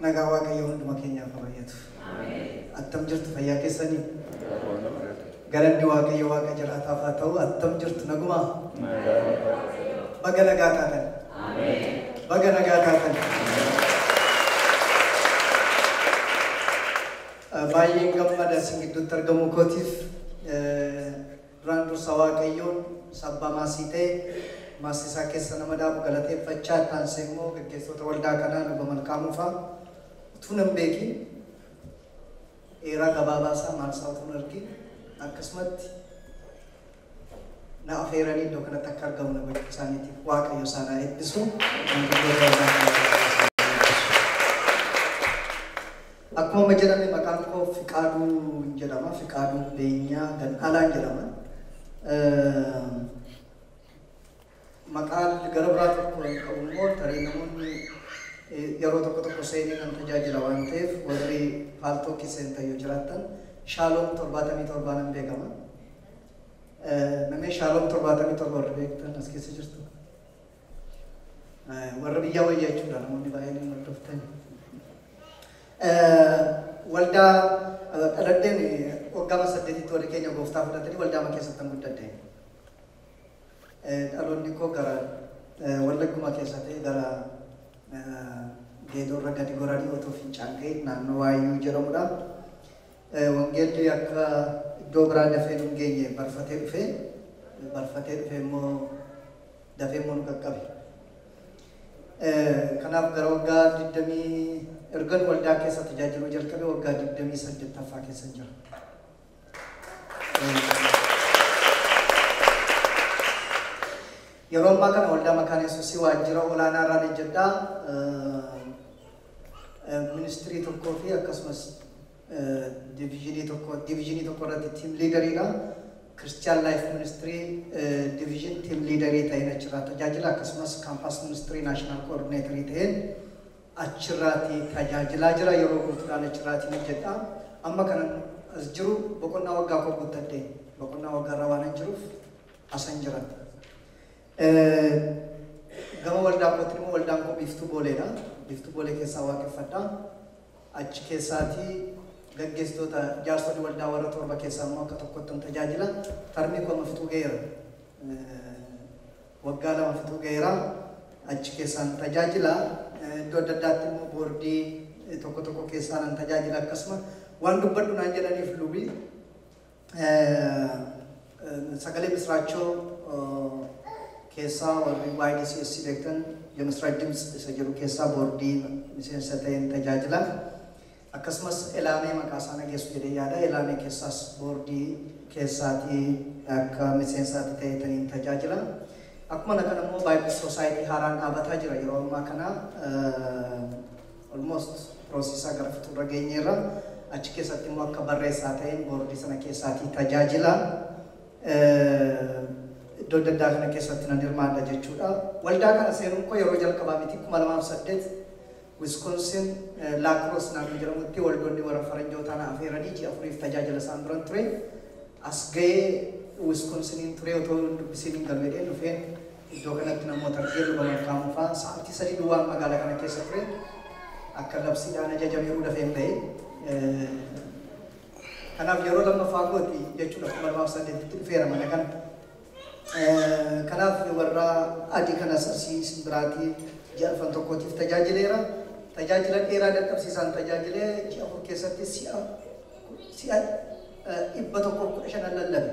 Nagaan Waaqayyoo hunduma keenyaaf haa bayyatu. Attam jirtu fayyaa keessanii? Galanni Waaqayyo Waaqa jiraataaf haa ta'u attam jirtu nagumaa? Baga nagaa taatan. Baga nagaa taatan. Baay'een gammada isin gidduutti argamuu kootiif. Duraan dursa Waaqayyoon sabba maasii ta'e maasii isaa keessa nama dhaabu galateeffachaa itti aansee immoo gaggeessoota waldaa kanaa Luba Malkaamuu fa'aa utuu nan beekiin dheeraa gabaabaa isaa maal isaa utuu hin argiin akkasumatti na afeeranii iddoo kanatti akka argamu na gochuu isaaniitiif Waaqayyo isaan haa eebbisu. Maanguddoota waldaa kanaa Waaqayyo isaan haa eebbisu. Akkuma amma jedhame maqaan koo Fiqaaduun jedhama. Fiqaaduu Beenyaa Gannaalaan jedhama. Maqaan gara biraa tokko kan qabu immoo tarii namoonni yeroo tokko tokko seenee nan tajaajila waan ta'eef warri paaltookii seentan yoo jiraattan shaaloom torbaatamii torbaa nan beekama. Namni shaaloom torbaatamii torba warri beektan as keessa jirtu. warra biyyaa wayya jechuudha namoonni baay'een hin hordoftani. Waldaa dhaladheen waggaa saddeetitti warri keenya gooftaa fudhatanii waldaa ma keessatti hin guddadhe. Dhaloonni koo gara wallagguma keessa ta'e gara geedoorra gadi goranii otoo fincaan ka'e naannoo waayyuu jedhamudha. Wangeelli akka iddoo biraa dafee hin geenye barfatee dhufee barfatee dhufee immoo dafee immoo nu qaqqabe. Kanaaf gara waggaa 20 ergan waldaa keessa tajaajiluu jalqabe waggaa 28ffaa keessa jira. Yeroo ammaa kana waldaa makaana yesuusii waajjira olaanaa irraan hojjedhaa ministirii tokkoo fi akkasumas Diviizhinii tokko diviizhinii tokko irratti tiim liidariidha. Kiristiyaan Laayif Ministirii diviizhin tiim liidarii ta'een achirraa tajaajila akkasumas kaampaas ministirii naashinaal koordineetarii ta'een achirraati tajaajilaa jira. Yeroo guutuudhaan achirraatiin hojjedha. Amma kanan as jiru boqonnaa waggaa koo guuttadhe. Boqonnaa waggaarra waanan jiruuf asan jira. Gama waldaa kootiin immoo waldaan koo biiftuu booleedha. Biiftuu boolee keessaa waaqeffadha. Achi keessaati gaggeessitoota, jaarsoli waldaa warra torba keessaa immoo akka tokkottan tajaajila. Tarmii koo amma fixuu ga'eera. Waggaa lama fixuu ga'eera. Achi keessaan tajaajila. Iddoo adda addaatti immoo boordii tokko tokko keessaanan tajaajila akkasuma waan dubbadhu naan jedhaniif lubi. Sagalee Misiraachoo keessaa warri YDCS beektan Yemisiraach Dimts isa jedhu keessaa boordii miseensa ta'een tajaajila. Akkasumas Elaamee maqaa isaa nageessu jedhee yaada. Elaamee keessaas boordii keessaatii akka miseensaatti ta'eetaniin tajaajila. Akkuma kana immoo Bible Society haaraan dhaabataa jira yeroo ammaa kana. Almost process isaa gara fixuurra geenyeerra. Achi keessatti immoo akka barreessaa ta'een boordii sana keessaatii tajaajila. Iddoo adda addaa kana keessatti nan hirmaadha jechuudha. Waldaa kana seenuun koo yeroo jalqabaa miti 2008 Wisconsin Laakroos naannoo jedhamutti waldoonni warra faranjootaa na afeeranii ji'a afuriif tajaajila isaan biran ture. As ga'ee Wiskonsiniin ture otoo hin dubbisiin hin galu jedheen dhufeen Iddoo kanatti namoota akka Hirriba Malkaamuu faa sa'aatii sadii duwwaan magaala kana keessa ture. Akka labsiidhaan ajajameeruu dafeen bahe. Kanaaf yeroo lammaffaa kooti jechuudha 2008tti dhufeera mana kana. Kanaaf warra adii kanas asii isin biraatii ji'a arfan tokkootiif tajaajileera. Tajaajila dheeraa dadhabsiisaan tajaajilee ji'a afur keessatti si'a si'a dhibba tokkoof kudha shanan lallabe.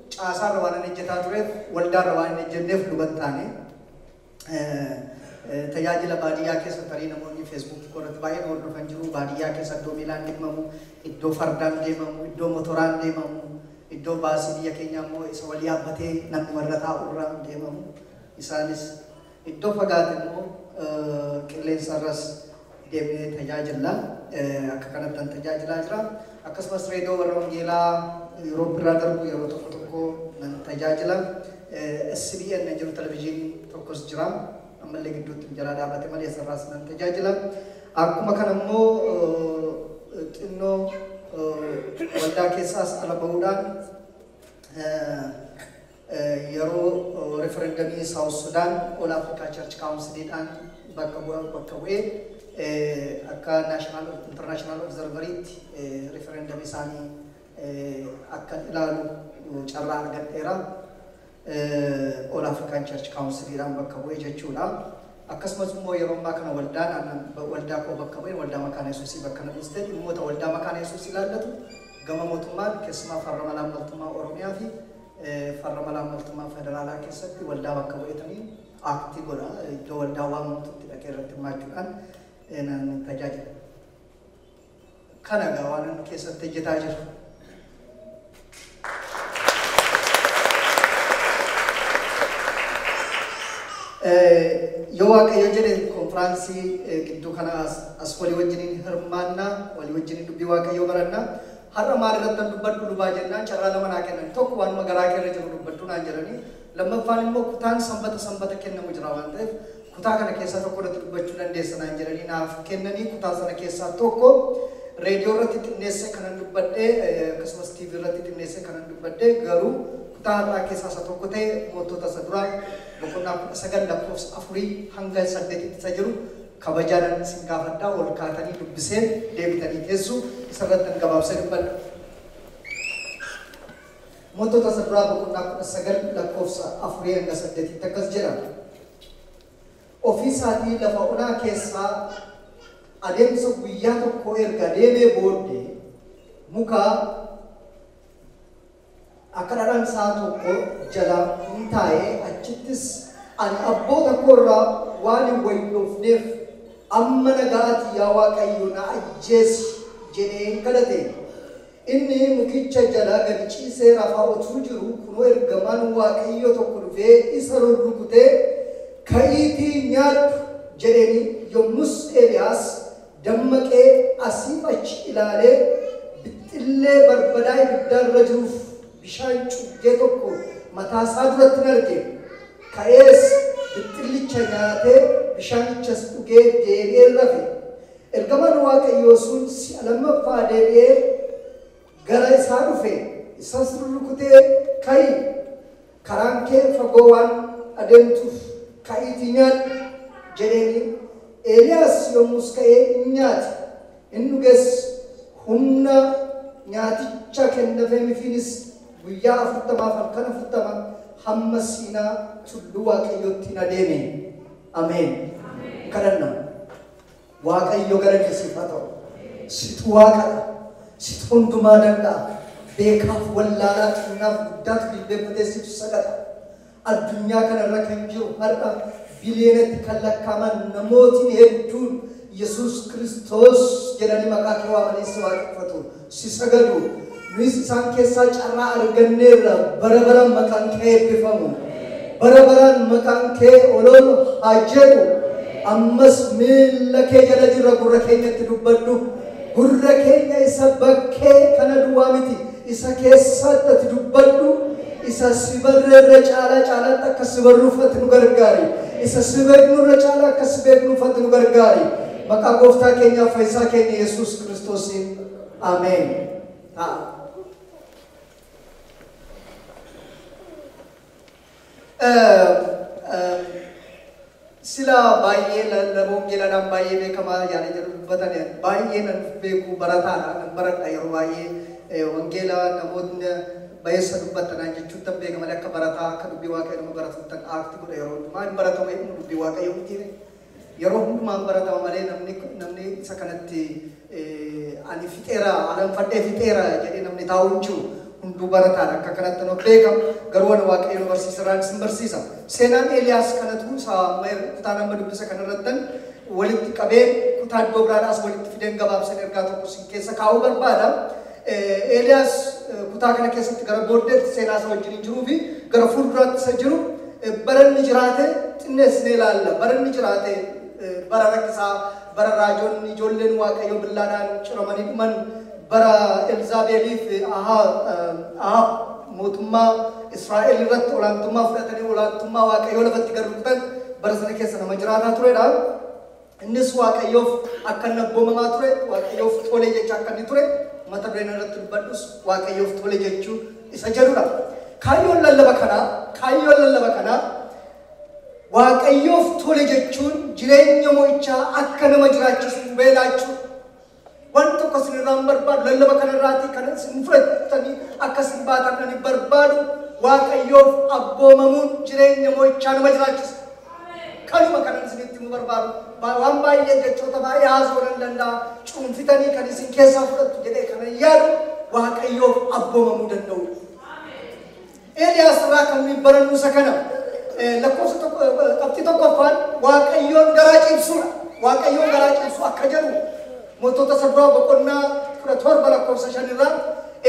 caasaarra waanan ejjetaa tureef, waldaarra waan hin ejjenneef luban taane. Tajaajila baadiyyaa keessa tarii namoonni Facebook koo irratti baay'ee na hordofan jiru. Baadiyyaa keessa iddoo miilaan deemamu, iddoo fardaan deemamu, iddoo motoraan deemamu, iddoo baasii biyya keenyaa immoo isa wal yaabbatee namnuma irra taa'u irra deemamu. Isaanis. Iddoo fagaate immoo qilleensarras deemnee tajaajilla. Akka kanattan tajaajilaa jira. Akkasumas Reediyoo Warra Wangeelaa Yuuroop irraa darbu yeroo tokko tokko nan tajaajila. SBN jiru televizyiin tokkos jira. Ammallee gidduutti jalaa dhaabate malee isarraas nan tajaajila. Akkuma kana immoo xinnoo waldaa keessaas ala ba'uudhaan Yeroo referendamii South Sudan All Africa Church Council dhaan bakka bu'a bakka bu'ee akka national international observer tti referendamii isaani akkan ilaalu carraa argadheera. All African Church Council dhaan bakka bu'ee jechuudha. Akkasumas immoo yeroo ammaa kana waldaan annan waldaa koo bakka bu'een waldaa makaana yesuusii bakka na buuste dhimmoota waldaa makaana yesuus ilaallatu gama mootummaan keessumaa farra malaammaltummaa Oromiyaa fi farra malaammaltummaa federaalaa keessatti waldaa bakka bu'eetanii aaktii godha. Iddoo waldaa waamamtutti dhaqee irratti hirmaachuudhaan nan tajaajila. Kana egaa waan inni keessatti hojjetaa jiru. Yoo Waaqayyo jedhe konfiraansii gidduu kana as walii wajjiniin hirmaannaa, walii wajjiniin dubbii Waaqayyoo barannaa, Har'a maal irrattan dubbadhu lubaa jennaan carraa lama naa kennani. Tokko waanuma garaa kee irra jiru dubbadhu naan jedhani. Lammaffaan immoo kutaan sanbata sanbata kennamu jira waan ta'eef kutaa kana keessaa tokko irratti dubbachuu dandeessa naan jedhanii naaf kennanii kutaa sana keessaa tokko reediyoo irratti xinneessee kanan dubbadhe akkasumas TV irratti xinneessee kanan dubbadhe garuu kutaa har'aa keessaa isa tokko ta'e mootota isa duraa boqonnaa 19 lakkoofsa 4 hanga 8 isa jiru Kabajaanan isin gaafadha ol kaatanii dubbiseen deebitanii teessu isa irrattan gabaabse dubbadha. Mootota isa duraa boqonnaa 19 lakkoofsa 4-8tti akkas jedha. Ofii isaatii lafa onaa keessaa adeemsa guyyaa tokkoo erga deemee booddee muka Akka dhadhaan sa'a tokko jala in taa'e, achittis ani abboota koo irraa waan hin wayyoofneef, amma nagaa ati yaa Waaqayyo na ajjeesi! jedheen kadhate. Inni mukicha jala gad ciisee rafaa utuu jiruu, kunoo ergamaan Waaqayyoo tokko dhufee isa rurrukutee, Ka'iitii nyaadhu! jedheen, yommus Eeliyaas Dammaqee asiif achi ilaalee bixxillee barbadaa ibiddaa irra jiruuf bishaan cuggee tokko mataa isaa durattin arge. Ka'ees bixxillicha nyaatee bishaanichas dhugee deebi'ee rafe. Ergamaan Waaqayyoo sun si'a lammaffaa deebi'ee. gara isaa dhufe, isas rurrukutee, Ka'i! Karaan kee fagoo waan adeemtuuf ka'iitii nyaadhu! jedheeni. Eeliyaas yommus ka'ee in nyaate, in dhuges, humna nyaaticha kennafeemifiinis guyyaa afurtamaaf halkan afurtama hamma Siinaa tulluu Waaqayyootti in adeeme. Ameen! Kadhanna. Waaqayyo galanni siif haa ta'u. Situ waaqadha. Situ hundumaa danda'a. Beekaaf wallaalaa xinnaaf guddaatu jilbeeffatee situ sagada. Addunyaa kanarra kan jiru har'a biliyoonatti kan lakkaaman namootni hedduun Yesuus Kiristoos jedhanii maqaa kee waamanii si waaqeffatu. si sagadu, nuyis isaan keessaa carraa arganneerra bara baraan maqaan kee haa eebbifamu. Bara baraan maqaan kee ol ol haa jedhu. Ammas miilla kee jala jirra gurra keenyatti dubbadhu. Gurra keenya isa bakkee kana duwwaa miti isa keessaatti ati dubbadhu. Isa si barreerra caalaa caalaatti akka si barruuf ati nu gargaari. Isa si beeknurra caalaa akka si beeknuuf ati nu gargaari. Maqaa gooftaa keenyaaf fayyisaa keenya Yesuus Kiristoosiin Ameen ta'a. Sila baay'ee lallaboon geeladhaan baay'ee beekamaa yaada jedhu dubbatan baay'ee nan beeku barataadha nan baradha yeroo baay'ee wangeela namoonni bayeessa dubbattanaa jechuun tan beekaman akka barataa akka dubbii waaqayyo nama baratuttan aakti godha yeroo hundumaa hin baratama jedhu dubbii waaqayyo mitiire. Yeroo hundumaa hin baratama malee namni namni isa kanatti ani fixeera alanfadhee fixeera jedhee namni taa'u hin jiru. Hunduu barataan akka kanatti nu beeka. Garuu ani waaqayyo nu barsiisa irraan isin barsiisa. Seenaan Eeliyaas kanatu isa amma er- kutaan amma dubbisa kanarrattan walitti qabee kutaa iddoo biraadhaas walitti fideen gabaabsan ergaa tokko isin keessa kaa'uu barbaada. Eeliyaas kutaa kana keessatti gara booddeetti seenaa isa wajjin jiruu fi gara fuulduraatti isa jiru bara inni jiraate xinneessinee ilaalla. Bara inni jiraate bara rakkisaa, bara raajonni ijoolleen Waaqayyoo billaadhaan ciramanii dhuman, bara Elzaabeelii fi Ahaab mootummaa Israa'el irratti olaantummaa fudhatanii olaantummaa Waaqayyoo lafatti gad rukutan bara sana keessa nama jiraataa turedha. Innis Waaqayyoof akka inni abboomamaa ture, Waaqayyoof tole jechaa akka inni ture, mata dureen irratti dubbadhus Waaqayyoof tole jechuu isa jedhudha. Kaayyoon lallaba kanaa, kaayyoon lallaba kanaa Waaqayyoof tole jechuun jireenya mo'ichaa akka nama jiraachisu hubee laachuu Waan tokko isin irraa hin barbaadu. Lallaba kana irraatii kan isin fudhattanii akka isin baatan kan hin barbaadu. Waaqayyoof abboomamuun jireenya mo'ichaa nama jiraachisa. Kanuma kanan isinitti nu barbaadu. Ba- Waan baay'ee jechoota baay'ee haasoo nan danda'a. Cuunfitanii kan isin keessaa fudhattu jedhee kanan yaadu Waaqayyoof abboomamuu danda'u. Eeliyaas irraa kan nuyi barannu isa kana. Lakkoofsa tokko, qabxii tokkoffaan Waaqayyoon garaa ciibsuudha. Waaqayyoon garaa ciibsuu akka jedhu mootota isa duraa boqonnaa kudha torba lakkoofsa shan irraa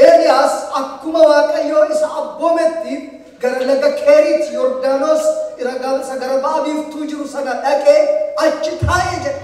Eeliyaas akkuma Waaqayyoo isa abboometti gara laga Keeriit Yordaanos ira ga- isa gara ba'a biiftuu jiru sana dhaqee achi taa'e jedha.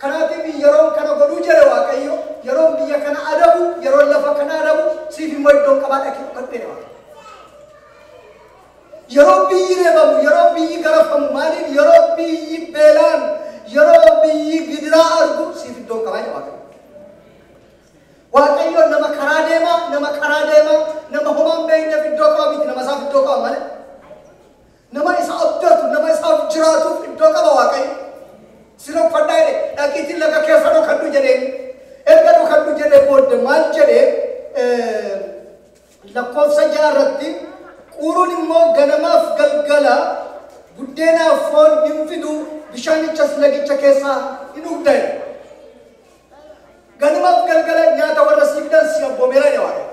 Kanaatiif yeroon kana godhuu jedhe Waaqayyo, yeroon biyya kana adabu, yeroon lafa kana adabu, siif immoo iddoon qabaa dhaqii dhokadhu jedhe Waaqayyo. Yeroo biyyi reebamu, yeroo biyyi garafamu, maaliif yeroo biyyi beelaan, yeroo biyyi gidiraa argu siif iddoon qabaa jedhe Waaqayyo. Waaqayyo nama karaa deemaa, nama karaa deemaa, nama homaan beekneef iddoo qaba miti, nama isaaf iddoo qaba malee. Nama isa abdatu, nama isaaf jiraatuuf iddoo qaba Waaqayyo. Sin uffadhaa jedhe dhaqiitiin laga keessa dhokadhu jedheen. Erga dhokadhu jedhee booda maal jedhee eh, lakkoofsa ja'a irratti quuruun immoo ganamaaf galgala buddeenaaf foon hin fidu bishaanichas lagicha keessaa hin dhugdan. Ganumaf galgala nyaata warra sii fidan si abboomeera jedha Waaqayyo.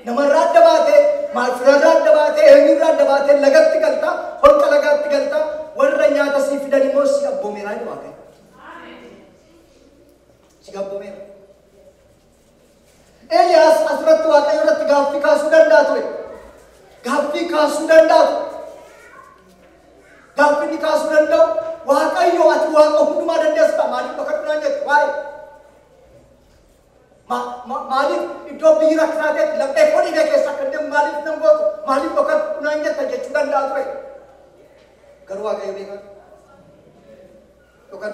Namarraa adda baatee, maacuraarraa adda baatee, eenyurraa adda baatee lagatti galta, holqa lagaatti galta, warra nyaata sii fidan immoo si abboomeera jedha Waaqayyo. Si abboomeera. Eliyaas asirratti Waaqayyo irratti gaaffii kaasuu danda'a ture. Gaaffii kaasuu danda'a ture. Gaaffii inni kaasuu danda'u Waaqayyo ati waaqa hundumaa dandeessudha. Maaliif bakka duraan jettu waa'ee? Ma- ma- Maaliif iddoo biyyi rakkisaa ta'etti laphee koo dhiiga keessa akka deemu maaliif nan gootu? Maaliif bakka duraan jetta jechuu danda'a ture. Garuu Waaqayyo beekaa. Yookaan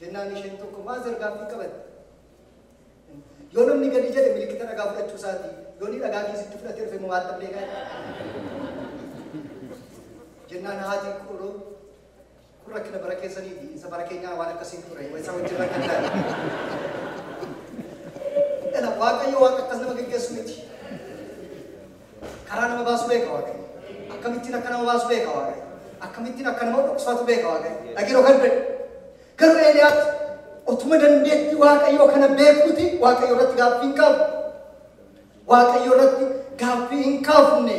Jennaan isheen tokko maazar gaaffii qabatte. Yoo namni gadi jedhe milikkita dhagaa fudhachuu isaati. Yoo ni dhagaa keessatti fudhate dhufe moo waatta beekaa Jennaan haati quroo kun rakkina bara keessaniiti. Isa bara keenyaa waan akkasiin ture. Isa wajjin rakkina taate. Waaqayyo waan akkas nama geggeessu miti. Karaa nama baasu beeka Waaqayyo. Akkamittiin akka nama baasu beeka Waaqayyo. Akkamittiin akka nama dhoksatu beeka Waaqayyo. Dhagiroo kan ta'e. Garuu Eeliyaas otuma dandeettii Waaqayyoo kana beekuuti Waaqayyo irratti gaaffii hin qabu. Waaqayyo irratti gaaffii hin kaafne.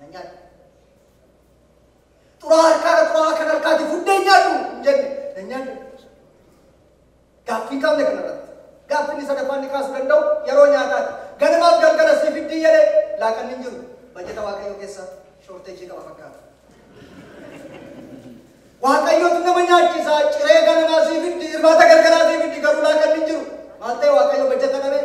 na nyaadhu. Xuraa harkaadha xuraa kan harkaati fuddee nyaadhu hin jenne na nyaadhu. Gaaffii kaafne kanarratti. Gaaffinni sadaffaa inni kaasuu danda'u yeroo nyaataati. Ganamaaf galgala sii fiddii jedhee laaqanni hin jiru. Bajeta Waaqayyoo keessa shoorteejii qaba fakkaata. Waaqayyootu nama nyaachisa ciree ganamaa sii fiddi irbaata galgalaa sii fiddi garuu laaqanni hin jiru. Maal ta'e Waaqayyo bajeta dhabee?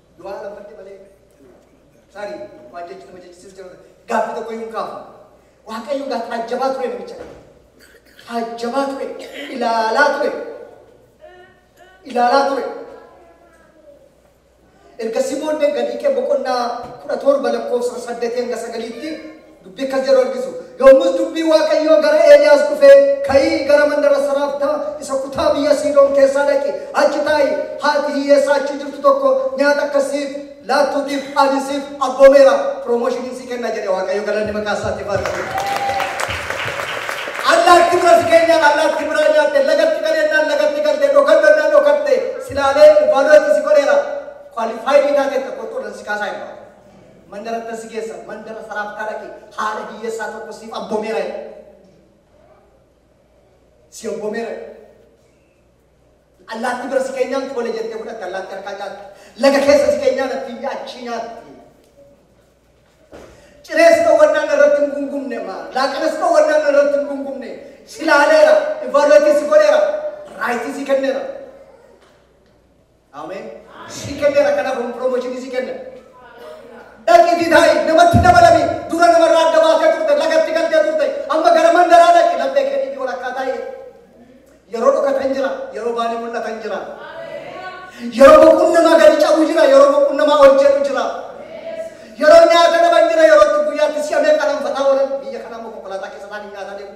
Du'aa lafarti malee tarii waan jechu nama jechisiisu jira gaaffii tokko iyyuu hin kaafu. Waaqayyo gaa taajjabaa ture namicha kana. Taajjabaa ture ilaalaa ture ilaalaa ture. Ergasii booddee gadiiqee boqonnaa kudha torba lakkoofsa saddeetii hanga sagaliitti Dubbi akkas jedhu argisu. Yommus dubbii Waaqayyoo gara Eeliyaas dhufee, Ka'ii gara mandara Saraaftaa isa kutaa biyya Siidoon keessaa dhaqi, achi taa'i, haati hiyyeessaa achi jirtu tokko nyaata akka siif laattuutiif ani siif abboomeera, piroomoshiniin si kenna jedhe Waaqayyo galanni maqaa isaatiif haa ta'u. Allaatti bira si keenyaan allaatti biraa nyaatte, lagatti galeennaan lagatti galte, dhokannonnaan dhokatte, silaalee ilvaadootti si godheera, kwaalifaayitii taateetta qoxxoodhaan si kaasaa hin baatu. Mandara bira si geessa, mandara Saraaphtaa dhaqi, haadha hiyyeessaa tokko siif abboomeera jedhe. Si abboomeera jedhe. Allaattii bira si keenyaan tole jettee fudhatte, allaattii harkaa nyaatti. Laga keessa si keenyaan attiyyee achii nyaatti. Cirees dhowwannaan irratti hin gungumne maa laaqinas dhowwannaan irratti hin gungumne si laaleera, ivaaluweetii si godheera, raayitii si kenneera. Ameen. Si kenneera kanaaf kun promotion si kenna. Dhaqiitii taa'i namatti dabalami dura namarraa adda baatee turte lagatti galtee turte amma gara mandaraa dhaqi laphee kee dhibi walakkaa taa'i. Yeroo dhokatan jira yeroo baanii mul'atan jira. Yeroo boquun namaa gadi cabu jira yeroo boquun namaa hojjetu jira. Yeroo nyaata dhaban jira yeroo itti guyyaatti si'a meeqa dhanfataa oolan biyya kanaa immoo konkolaataa keessa isaanii nyaata deemu.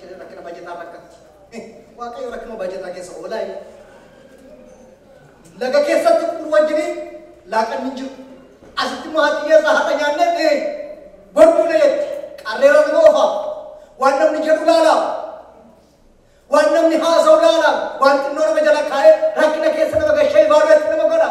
Jarri rakkina bajetaa rakkatti. Waaqayyo rakkinuma bajetaa keessa oolaa inni. Laga keessatti qur wajjiniin laaqanni hin jiru. Asitti immoo haati hiyyeessaa haadha nyaannee ta'e borduu na jetti. Qarreera nama ofa. Waan namni jedhu laala. Waan namni haasa'u laala. Waan xinnoo nama jala kaa'ee rakkina keessa nama gashee ibaaluutti nama godha.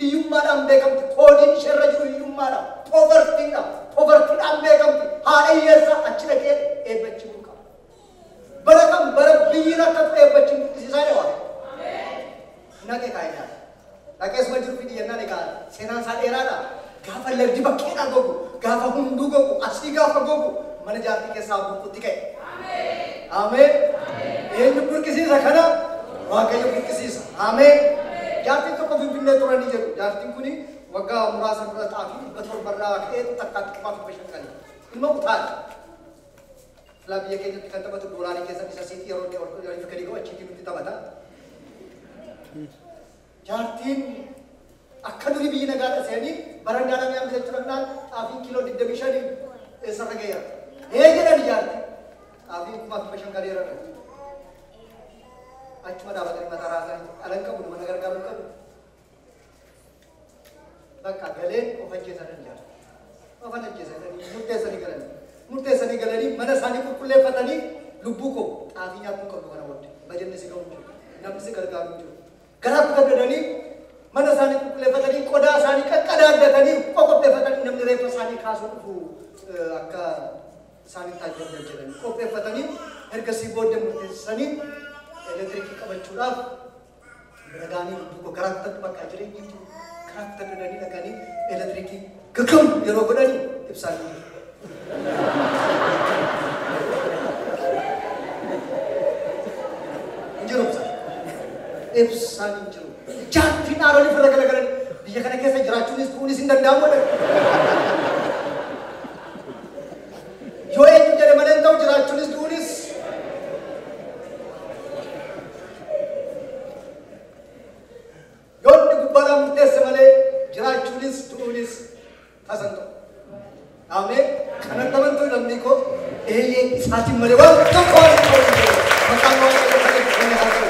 Hiyyummaadhaan beekamti. Koodiin ishee irra jiru hiyyummaadha. Poverty dha. Poverty dhaan beekamti. Haadha hiyyeessaa achi dhaqee eebba achi bulu qaba. Bara kan bara biyyi rakkatu eebba achi hin burqisiisaa jedha Waaqayyo. Naqee kaa'ee nyaata. Naqee suma jiru fidi jennaan egaa seenaan isaa dheeraadha. Gaafa lagdi bakkeedhaa gogu, gaafa hunduu gogu, asii gaafa gogu mana jaartii keessaa burqutti ka'e. Ameen. Eenyu burqisiisa kana? Waaqayyo burqisiisa. Ameen! Jaartiin tokko Finfinnee tura ni jedhu. Jaartiin kuni waggaa muraasa dura xaafii 700 irraa ka'eetu takkaatti qofaa 500 gale. Ilma utaale. Silaa biyya keenyatti kan taphatu doolaarii keessa isa siif yeroo inni ol yeroo gadi ga'u achiitii nutti taphata. Jaartiin akka durii biyyi nagaa dhasanii barandaa namni hambisa jechuudha kanaan xaafiin kiiloo 25 eessarra ga'eera. Ee jedhan jaartiin. Xaafiin kumaa kibba shan galeera dha. Achuma dhaabatanii mataa raasan dhalan qabu nama na gargaaruu qabu. Bakka galeen of ajjeesan hin jaalatu. Of hin ajjeesan jedhanii murteessanii galanii. Murteessanii galanii mana isaanii qulqulleeffatanii lubbuu koo xaafii nyaatuu qabdu kana booda bajanni si ga'u hin jiru. Namni si gargaaru hin jiru. Garaa guddadanii mana isaanii qulqulleeffatanii qodaa isaanii qaqqadaaddatanii qoqopheeffatanii namni reeffa isaanii kaasuu dhufu akka isaan itti ajjabdan jedhanii qopheeffatanii ergasii booddee murteessanii elektirikii qabachuudhaaf bira ga'anii lubbuu koo garaatti bakka jireenyi jiru garaatti dadanii dhaqanii elektirikii gaggam yeroo godhanii ibsaa hin jiru. Hin jiru ibsaan. Ibsaan hin jiru. Jaatti dhaaronni firra galagalanii biyya kana keessa jiraachuunis du'uunis hin danda'amu. Yoo eenyu jedhe malee hin ta'u jiraachuunis du'uunis. Yoo inni gubbaadhaan murteesse malee jiraachuunis du'uunis tasan ta'u. Amee kanan tamantuu namni koo eeyyee isaatiin malee waan tokko waan hin ta'u. Maqaan waan ta'eef kan itti kan haa ta'u.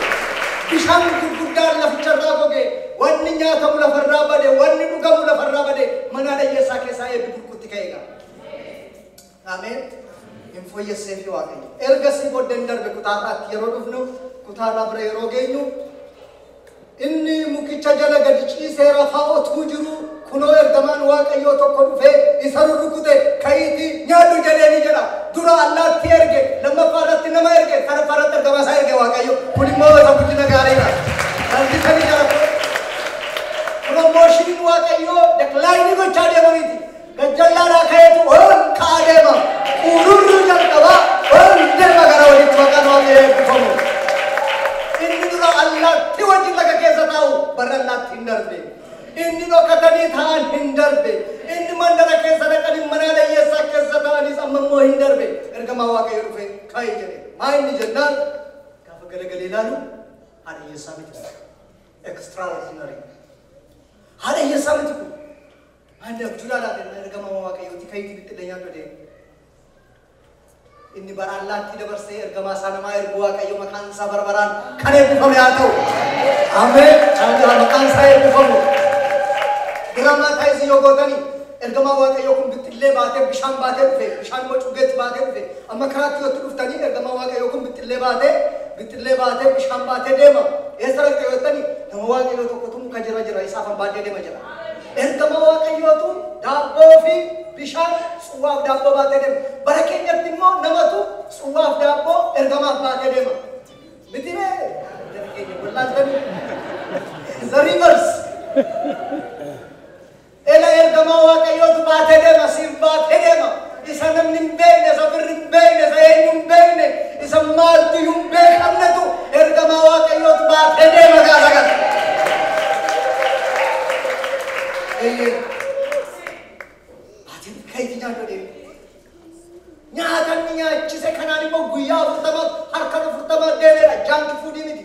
Bishaan gurguddaan laficharraa goge wanni nyaatamu lafarraa bade wanni dhugamu lafarraa bade manaa dhayyeessaa keessaa eebbi gurguddaa. ka'e ga'a. Ameen. Hin fooyyesseefi Waaqayyo. Ergasii booddee hin darbe kutaarraatti yeroo dhufnu kutaarraa bira yeroo geenyu inni mukicha jala gadi ciisee rafaa otuu jiru kunoo ergamaan Waaqayyoo tokko dhufee isa rurrukute ka'iitii nyaadhu jedhee ni jedha. Dura allaatti erge lammaffaa irratti nama erge sadaffaa irratti ergamaa isaa erge Waaqayyo. Kun immoo isa guddina gaariidha. Salphisanii jala Piromooshiniin Waaqayyoo deklaayinii gochaa deema miti. Gajjallaadhaa ka'eetu ol ka'aa deema. Uururuu jalqaba ol deema gara walitti maqaan Waaqayyoo eebbifamu. Inni dura allaatti wajjin laga keessa taa'u barra allaatti hin darbe. Inni dhokatanii taa'an hin darbe. Inni mandara keessa dhaqanii manaa dayyeessaa keessa taa'anis amma immoo hin darbe. Ergamaa Waaqayyo dhufe ka'e jedhe. Maa inni jennaan gaafa galagalee ilaalu haadha hiyyeessaa miti. Extraordinary. Haala hiyyeessaa miti kun. Ani abjuu ilaalaa deemaa ergama waaqayyooti kan itti bittillee nyaadhu deemu. Inni bara allaattii dabarsee ergamaa isaa namaa ergu waaqayyo maqaan isaa bara baraan kan eebbifame haa ta'u. Ameen. Ameen. Maqaan isaa eebbifamu. Diraamaa taa'isii yoo gootanii ergamaa waaqayyoo kun bittillee baatee bishaan baatee dhufe bishaan immoo cubbeetti baatee dhufe Amma karaatti yoo itti dhuftanii ergamaan Waaqayyoo kun bixxillee baatee, bixxillee baatee, bishaan baatee deema. Eessa dhaqxa yoo jettani, nama Waaqayyoo tokkotu muka jira jira isa afan baadhee deema jedha. Ergamaa Waaqayyootu daabboo fi bishaan, tsuwwaa fi daabboo baatee deema. Bara keenyatti immoo namatu tsuwwaa fi daabboo ergamaaf baatee deema. Miti ree? Jara keenya wallaaltanii. The reverse. Ela ergamaa Waaqayyootu baatee deema, siif baatee deema. Isa namni hin beekne, isa firri hin beekne, isa eenyu hin beekne, isa maaltu iyyuu hin beekamnetu ergamaa Waaqayyootu baatee deema gaafa kana. Eeyyee. Ati ka'iitii nyaadhu deema. Nyaata inni nyaachise kanaan immoo guyyaa afurtamaaf harka afurtamaa deemeera. Jaanki fuudii miti.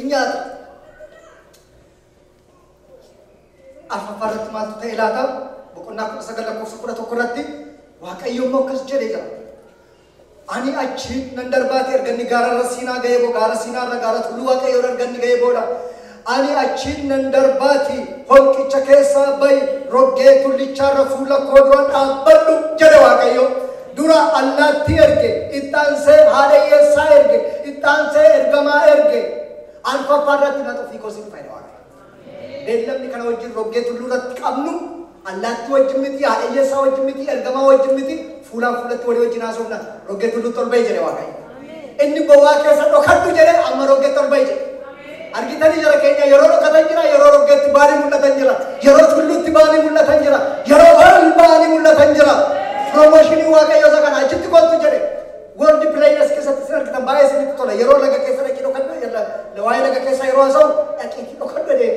in nyaata. Arfaffaa irratti maaltu ta'e laata? Boqonnaa 19 lakkoofsa 11 irratti Waaqayyo immoo akkas jedhee jira. Ani achi nan darbaati erga inni gaara irra siinaa ga'ee boo gaara siinaa irra gaara tulluu Waaqayyo irra erga inni ga'ee booda ani achi nan darbaati holqicha keessaa ba'i roggee tullichaa irra fuula koo dura dhaabbadhu jedhe Waaqayyo. Dura allaattii erge, itti aansee haadha hiyyeessaa erge, itti aansee ergamaa erge, arfaffaa irratti mata ofii koo si dhufa jedha Waaqayyo. Beellamni kana wajjin roggee tulluu irratti qabnu allaattii wajjin miti, haadha hiyyeessaa wajjin miti, ergamaa wajjin miti, fuulaan fuulatti walii wajjin haasofna. Roggee tulluutti ol ba'i jedhe Waaqayyo. Inni bowwaa keessa dhokadhu jedhe amma roggeetti ol ba'i jedhe. Argitanii jara keenya yeroo dhokatan jira, yeroo roggeetti ba'anii mul'atan jira, yeroo tulluutti ba'anii mul'atan jira, yeroo horii ba'anii mul'atan jira. Promooshinii Waaqayyoo isa kana achitti kootu jedhe. World Players keessatti sin argitan baay'ee isinitti tola. Yeroo laga keessa dhaqii dhokadhu, yeroo- waa'ee laga keessa yeroo haasa'u dhaqiitii dhokadhu jedhee.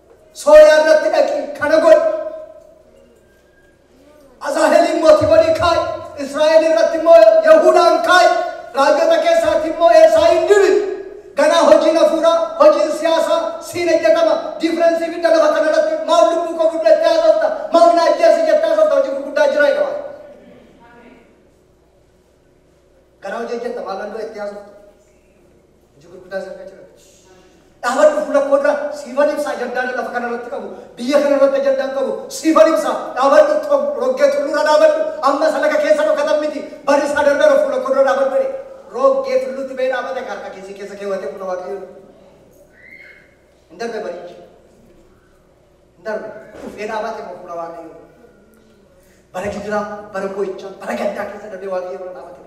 Sooriyaa irratti dhaqi, kana godhi. Azaaheliin mootii godhii kaa'i. Israa'el irratti immoo Yahuudaan kaa'i. Raajota keessaatti immoo Eelsaa'iin dibi. Ganaa hojiin hafuuraa, hojiin siyaasaa siin hojjetama. Diifirensii fidda lafa kana irratti maaf lubbuu koo fudhu jettee haasofta? Maaf na ajjeesi jettee haasofta? Hojii gurguddaa jira jedha Waaqayyo. Garaa hojii hojjetta maalaan dura itti haasoftu. Hojii gurguddaa si harka jira. Dhaabadhu fuula koo dura siifan ibsa ajandaana lafa kana irratti qabu. Biyya kana irratti ajandaan qabu. Siifan ibsa dhaabadhu tom roggee tulluura dhaabadhu. Amma isa laga keessa dhokatan miti. Barri isaa darbeera fuula koo dura dhaabadhu jedhe. Roggee tulluutti ba'ee dhaabate ka harka keessi keessa keewwatee fuula waaqayyoon. Hin darbe barichi. hin darbu. Dhufee dhaabaate immoo fuula Waaqayyoo dura. Bara gidiraa, bara boo'ichaa, bara gaddaa keessa darbee Waaqayyoo dura dhaabate.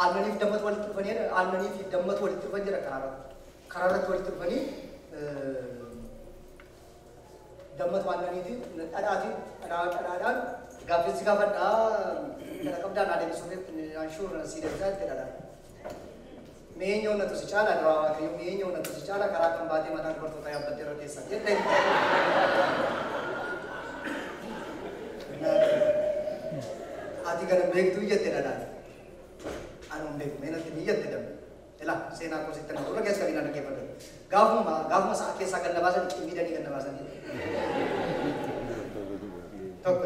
Aannaniif dammatu walitti dhufanii jedha. Aannanii fi dammatu walitti dhufan jedha karaa irratti. Karaa irratti walitti dhufanii eh, dammatu aannaniitiin dhadhaatiin dhadhaa dhadhaadhaan gaaffiinsi gaafadhaa dhadha qabdaan adeemsisuuf jetti anshuur sii deebisaa jetti dhadhaa. Mee eenyu onnatu si caala duraa waaqayyoo mee eenyu onnatu si caala karaa kan baatee mataa dubartootaa yaabbattee irra teessa jette. Ati kana beektuu jette dhadhaan. Ani hin beeku mee natti ni jette dambe. Ila seenaa koo sitti na gurra keessa qabinaa dhaggeeffadhu. Gaafuma gaafuma sa'a keessaa gad na baasan cimmiidhanii gad na baasanii. Tokko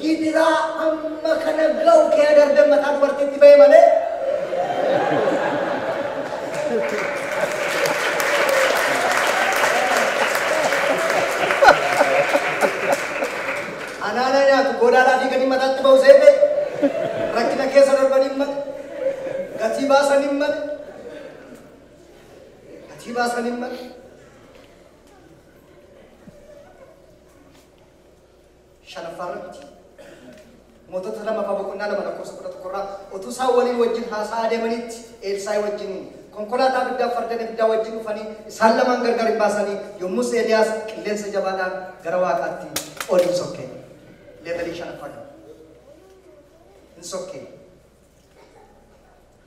Gidiraa amma kana ga'u kee agartee mataa dubartiitti ba'e malee. Anaana nyaatu godaadhaa fi gadi mataatti ba'u seete rakkina keessa darban hin male. Gatii baasan hin male. Gatii baasan hin male. shanaffaarratti mootota lamaffaa boqonnaa lama lakkoofsa kudha tokkorraa utuu isaan waliin wajjin haasa'aa deemanitti Eelsaa'i wajjin konkolaataa abiddaa fardeen abiddaa wajjin dhufanii isaan lamaan gargar hin baasanii yommus Eeliyaas qilleensa jabaadhaan gara waaqaatti ol hin sokkee leevelii shanaffaa kana hin sokkee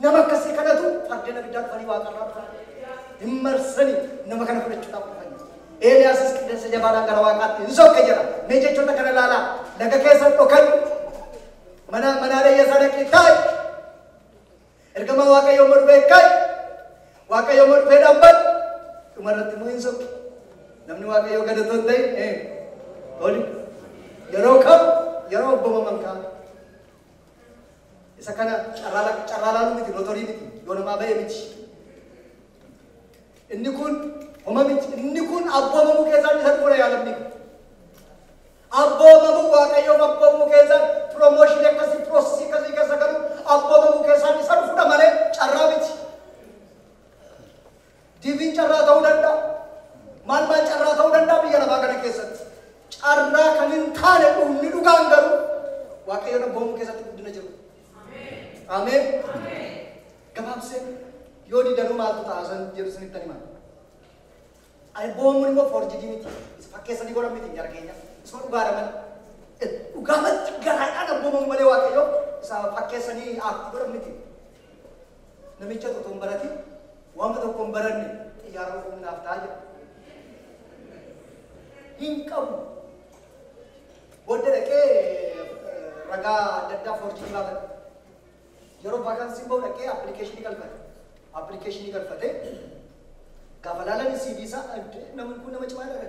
Nama akkasii kanatu fardeen abiddaa dhufanii waaqa irraa dhufan. Hin marsanii nama kana fudhachuudhaaf dhufan. Eeliyaasis qilleensa jabaadhaan gara waaqaatti hin sokke jedha. Mee jechoota kana ilaalaa laga keessa dhokan mana manaa leeyyasaa dhaqii kaa'i. Ergamaa waaqayyoo immoo dhufee kaa'i. Waaqayyoo immoo dhufee dhaabbatu. Dhuma irratti immoo hin sokke. Namni waaqayyoo gadatoo hin ta'in ee oli yeroo kam yeroo obbomaman kaa'u. Isa kana carraa lak- carraa laaluu miti lotorii miti yoo namaa ba'e miti. Inni kun homa miti inni kun abboomamuu keessaa isa dhufuudha yaa lammii. Abboomamuu waaqayyoon abboomamuu keessaa piroomooshinii akkasii piroosesii akkasii keessa galu abboomamuu keessaa isa dhufuudha malee carraa miti. Diviin carraa ta'uu danda'a. Maal maal carraa ta'uu danda'a biyya lafaa kana keessatti. Carraa kan hin taane dhuunni dhugaan garuu Waaqayyoon abboomuu keessatti guddina jiru. Ameen. Gabaabsee yoo didanuu maaltu ta'a san jedhu isinitti hima. Alboomuun immoo foorjidii miti. Isa fakkeessanii godhan miti jara keenya. Isuma dhugaadha malee. Dhugaamatti garaadhaan abboomamu malee waaqayyo isa fakkeessanii aartii godhan miti. Namichatu utuu hin baratin wama tokko hin baranne xiyyaara ofuun naaf ta'a jedha. Hin qabu. Booda dhaqee ragaa adda addaa foorjii baafate. Yeroo vaakaansiin bahu dhaqee appilikeeshinii galfate. Appilikeeshinii galfatee gaafa laalan CV isaa namni kun nama cimaa dha.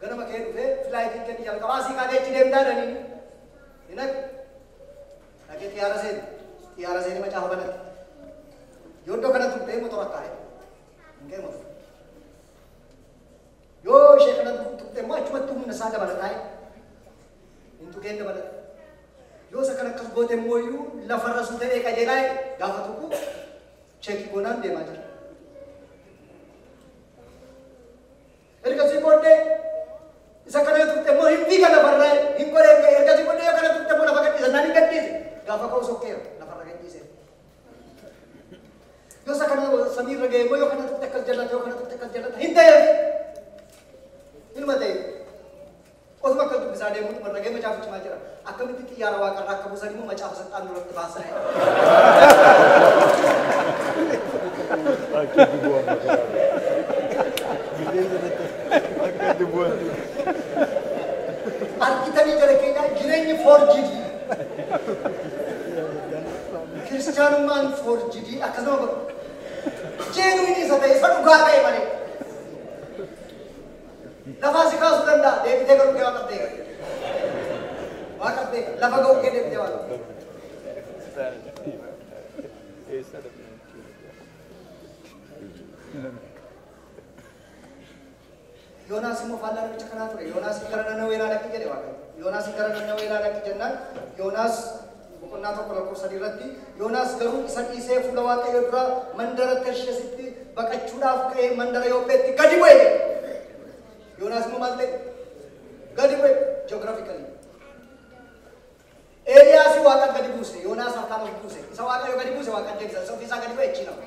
Ganama ka'ee dhufee filaayitiin keenya jalqabaa asii kaatee achi deemtaa naniin. Hin haqe. Dhaqee xiyyaara seene. Xiyyaara seenee macaafa banate. Yoo iddoo kana tuqxee motora kaa'e. Hin ka'e motora. Yoo ishee kana tuqxee immoo achumatti humna isaa dabala taa'e. Hin tuqeen dabalata. Yoo isa kan akkas goote immoo iyyuu lafarra suu ta'ee qajeelaa jedhe gaafa tuqu cheekii goonaan deemaa jira. Ergasii booddee isa kana turte immoo hin fiiga lafarraa hin qoree ka'e ergasii booddee yoo kana turte immoo lafa gadhiisa naan hin gadhiise gaafa ka'u sokkeera lafarra gadhiise. Yoo isa kana samiirra ga'e immoo yoo kana turte akkas jallata yoo kana turte akkas jallata hin ta'eef ilma ta'e. Otuma akkas dubbisaa deemuun warragee macaafa cimaa jira. Akkamitti xiyyaara waaqarraa akka buusan immoo macaafa saxxaan duratti baasa. Akka dubuwan makaraa. Bilee sanatti akka dubuwan. Argitanii jala keenyaa jireenyi foorjidii. Kiristaanummaan foorjidii akkasuma godha. Jeenuun isa ta'e isa dhugaa ta'e malee. Lafaa si kaasuu danda'a deebitee garuu kee waaqaf beeka. Waaqaf beeka lafa ga'uu kee deebitee waaqaf beeka. Yoonaas immoo faallaa namicha kanaa ture. Yoonaas gara Nanawee ilaa dhaqi jedhe Waaqayyo. Yoonaas gara Nanawee ilaa dhaqi jennaan Yoonaas boqonnaa 1 lakkoofsa 3 irratti, Yoonaas garuu isa dhiisee fuula Waaqayyoo duraa mandara Tarshesitti baqachuudhaaf ka'ee mandara Yoopheetti gadi bu'e jedha. Yoonaas immoo maal ta'e? Gadi bu'e geographically. Eeliyaasi waaqa gadi buuse, Yoonaas harkaan of buuse. Isa Waaqayyo gadi buuse waaqa deebisa, isa ofiisaa gadi bu'e achiin hafa.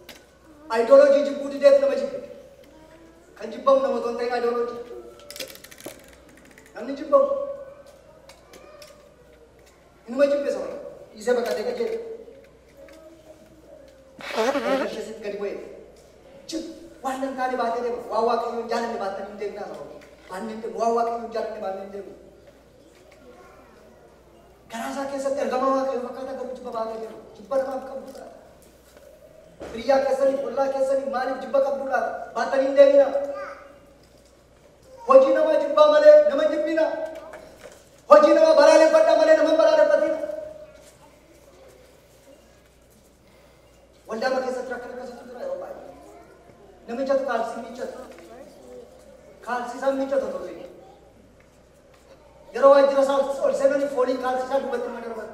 Ideology jibbuu dideef nama jibbe. Kan jibbamu nama otoo hin ta'in ideology. Namni jibbamu inuma jibbe sana dhiisee baqatee qajeele. Erga ishee sitti gadi bu'eef jib waan hin taane baatee deema. Waan waaqayyo hin jaalanne baattanii hin deemtaa sana. Baannee hin deemu. Waan waaqayyo hin jaalanne baannee hin deemu. Garaa isaa keessatti ergamaa waaqayyo fakkaata garuu jibba baatee deema. Jibba namaaf qabu fudhata. Hiriyyaa keessaniif, ollaa keessaniif maaliif jibba qabdu laata? Baattanii hin deeminaa. Hojii namaa jibbaa malee nama hin jibbinaa. Hojii namaa balaaleffadhaa malee nama hin balaaleffatinaa. Waldaama keessatti rakkina akkasiitu jira yeroo baay'ee. Namichatu kaalsii miiccata. Kaalsii isaan miiccata otoo ta'e. Yeroo waajjira isaa ol seenanii fooliin kaalsii isaa duubatti nama darbata.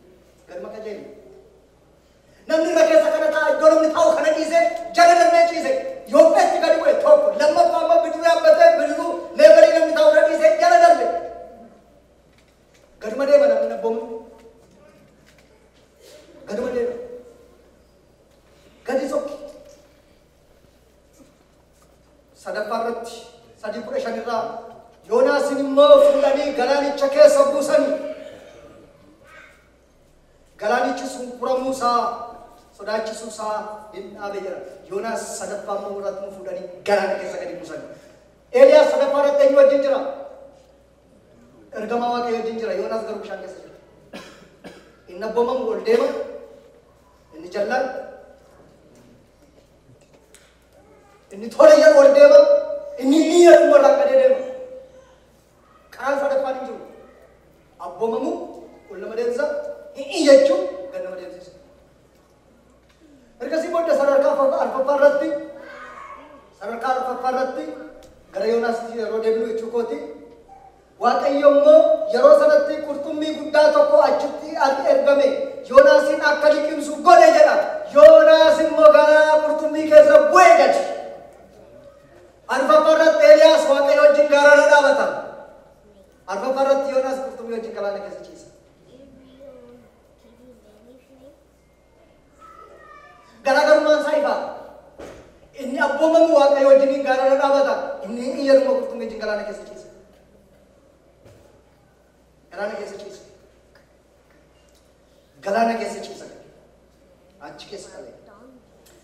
Galma qajeeli. Namni irra keessa kana ta'a iddoo namni taa'u kana dhiisee jala darbee ciise yoo feetti gadi bu'e tokko lammaffaa amma bidiruu yaabbatee bidiruu leebarii namni taa'u irra dhiisee jala darbe. Gaduma deema namni nabboomu. Gaduma deema. Gadi sokki. sadaffaa irratti sadii kudha shan irraa Yoonaasin immoo fuudhanii galaanicha keessa buusanii galaanichi sun furamuu isaa sodaachisuu isaa hin dhaabe jira. Yoonaas sadaffaa immoo warratti nu fuudhanii galaana keessa gadi buusanii. Eeliyaas sadaffaa irratti eenyu wajjin jira? Ergamaa waaqayyo wajjin jira. Yoonaas garuu bishaan keessa jira. Inni abboomamu ol deema. Inni jallaan Inni tola jedhu ol deema, inni inni jedhu irraa gadee deema. Karaan sadaffaan hin jiru. Abboomamu ol nama deemsa, hin iyyachuu gad nama deemsisa. Ergasii booda sadarkaa afur- arfaffaa irratti sadarkaa arfaffaa irratti gara Yoonaasitti yeroo deebinu jechuu kooti Waaqayyo immoo yeroo sanatti qurxummii guddaa tokko achitti at ergame, Yoonaasiin akka liqimsu godhe jedha. Yoonaas immoo gara qurxummii keessa bu'e gadi. Arfaffaa irratti Eeliyaas Waaqayyo wajjin gaara irra dhaabata. Arfaffaa irratti Yoonaas qurxummii wajjin galaana keessa ciisa. Garaagarummaan isaa ifaadha. Inni abboomamu Waaqayyo wajjiniin gaararra dhaabata. Inni hin iyyaruma qurxummii wajjin galaana keessa ciisa. Galaana keessa ciisa. Galaana keessa ciisa. Achi keessa dhabe.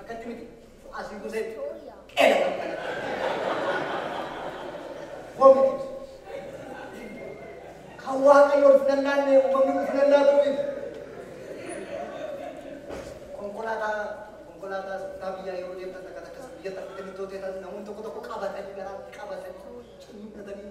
Akkatti miti. Asii buusee qeela kan kana. Vomited. Kan waaqayyo ulfina laanne uumamni ulfina laatuufiif. Konkolaataa konkolaataa kutaa biyyaa yeroo deemtan takka takkas biyya takka deemtoota namoonni tokko tokko qabatanii garaa qabatanii ciniinnatanii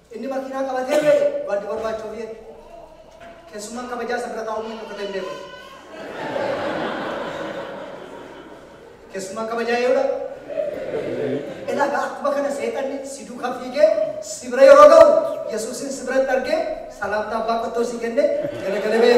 Inni makiinaa qabatee ba'e waanti barbaachu ofii eege. Keessummaan kabajaa isa bira taa'uu malee dhokatee hin beeku. Keessummaan kabajaa eeyudha. Ilaa egaa akkuma kana seexanni si duuka fiigee si bira yeroo ga'u Yesuusin si biratti argee salaamtaa abbaa qottoo si kenne galagala ba'e.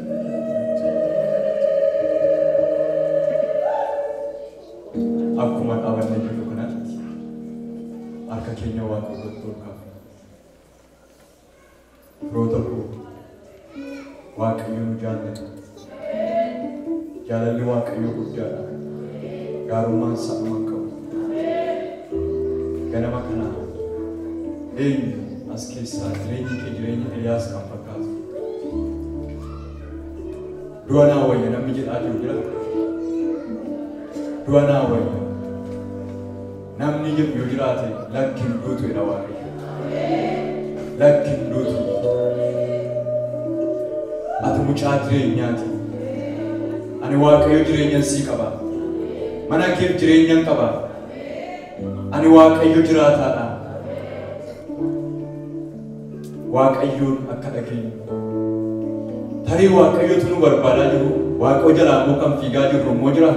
Akkuma dhaabannee jirru kanatti harka keenya Waaqa duratti ol kaafna. Firoota koo Waaqayyo nu jaallata. Jaalalli Waaqayyoo guddaadha. Gaarummaan isaa dhuma hin qabu. Ganama kana eenyu as keessaa jireenyi kee jireenya Eliyaas kan fakkaatu? Du'a naa wayya namni jedhaa jiru jira. Du'a naa wayya namni jedhu yoo jiraate lakkin duutu jedha waaqayyo. Lakkin duutu. Ati mucaa jireenyaati. Ani waaqayyo jireenyan sii qaba. Mana keef jireenyan qaba. Ani waaqayyo jiraataadha. Waaqayyoon akka dhageenyu. Tarii Waaqayyotu nu barbaadaa jiru, Waaqoo jalaa immoo kan fiigaa jirru immoo jira.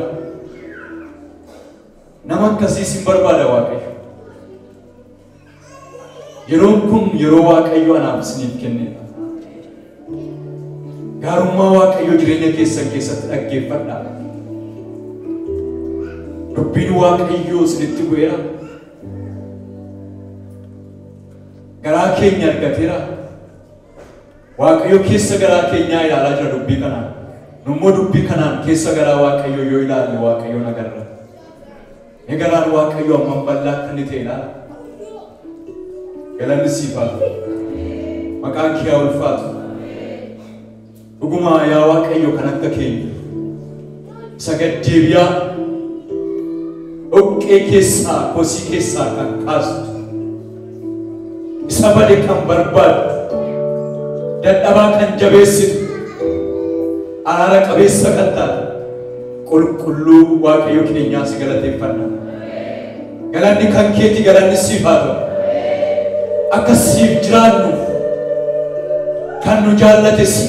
Nama akkasii sin barbaada Waaqayyo. Yeroon kun yeroo Waaqayyo anaaf isiniif kennedha. Gaarummaa Waaqayyo jireenya keessan keessatti dhaggeeffadha. Dubbiin Waaqayyoo isinitti bu'eera. garaa keenya argateera. Waaqayyo keessa garaa keenyaa ilaalaa jira dubbii kanaan. Nummoo dubbii kanaan keessa garaa Waaqayyoo yoo ilaalle Waaqayyoon agarra. Ni garaan Waaqayyoo hammam bal'aa akka inni ta'e ilaala. Galanni siif haa ta'u. Maqaan kee haa ulfaatu. Dhuguma yaa Waaqayyo kan akka keenya isa gaddeebi'aa dhoqqee keessaa kosii keessaa kan kaastu isa bade kan barbaaddu dadhabaa kan jabeessitu araara qabeessa kan taate qulqulluu Waaqayyo keenyaa si galateeffanna. Galanni kan keeti galanni siif haa ta'u. Akka siif jiraannuuf kan nu jaallate si.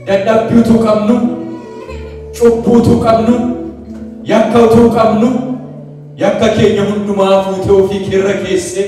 Dadhabbii utuu qabnu, cubbuu utuu qabnu, yakka utuu qabnu, yakka keenya hundumaa fuutee ofii keerra keessee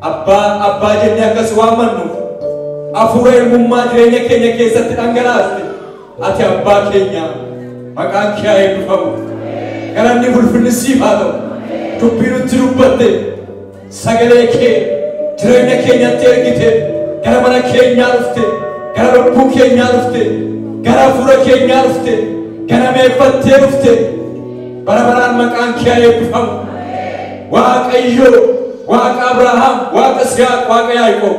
Abbaa, Abbaa jennee akka si waammannuuf, Hafuura ilmummaa jireenya keenya keessatti dhangalaaste, ati Abbaa keenya. Maqaan kee haa eebbifamu. Galanni fi ulfinni siif haa ta'u. Dubbii nutti dubbatte, sagalee kee jireenya keenyatti ergite, gara mana keenyaa dhufte, gara lubbuu keenyaa dhufte, gara hafuura keenyaa dhufte, ganameeffattee dhufte. Bara baraan maqaan kee haa eebbifamu. Waaqayyo Waaqa Abrahaam, Waaqa Siyaaq, Waaqa Yaaqoob,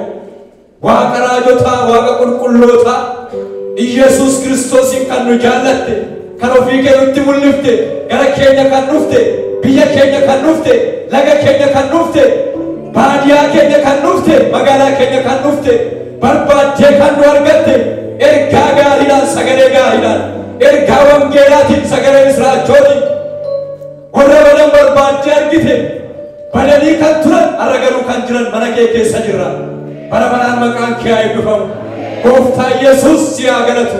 Waaqa raajotaa, Waaqa qulqullootaa, Iyyasuus Kiristoosiin kan nu jaallatte, kan ofii kee nutti mul'ifte, gara keenya kan dhufte, biyya keenya kan dhufte, laga keenya kan dhufte, baadiyaa keenya kan dhufte, magaalaa keenya kan dhufte, barbaaddee kan nu argatte ergaa gaariidhaan sagalee gaariidhaan ergaa wangeelaatiin sagalee misiraachootiin warra badan barbaaddee argite badanii kan turan har'a garuu kan jiran mana kee keessa jirra bara baraan maqaan kee haa eebbifamu gooftaa yesuus si haa galatu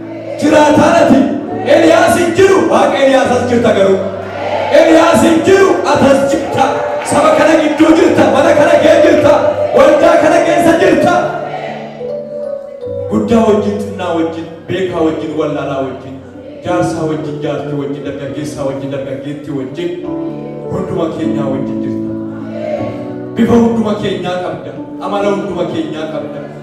jiraataadhati Eliyaas hin jiru waaqa Eliyaas as jirta garuu Eliyaas hin jiru atas jirta saba kana gidduu jirta mana kana kee jirta waldaa kana keessa jirta guddaa wajjin xinnaa wajjin beekaa wajjin wallaalaa wajjin jaarsaa wajjin jaartii wajjin dargaggeessaa wajjin dargaggeettii wajjin hunduma keenyaa wajjin jirta bifa hunduma keenyaa qabda amala hunduma keenyaa qabda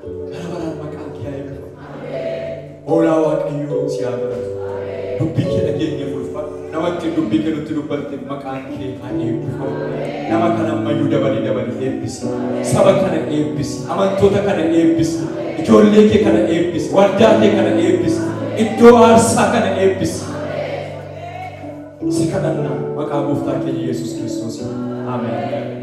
Bara baraan maqaan kee haa eebbifamu. Hoolaa Waaqayyoo si haa godhatu. Dubbii kee dhageenye ulfa. Nama ittiin dubbii kee nutti dubbatte maqaan kee haa eebbifamu. Nama kana ammayyuu dabali dabali eebbisi. Saba kana eebbisi. Amantoota kana eebbisi. Ijoollee kee kana eebbisi. Waldaa kee kana eebbisi. Iddoo aarsaa kana eebbisi. si kadhanna maqaa gooftaa keenya Yesuus Kiristoosiin. Ameen.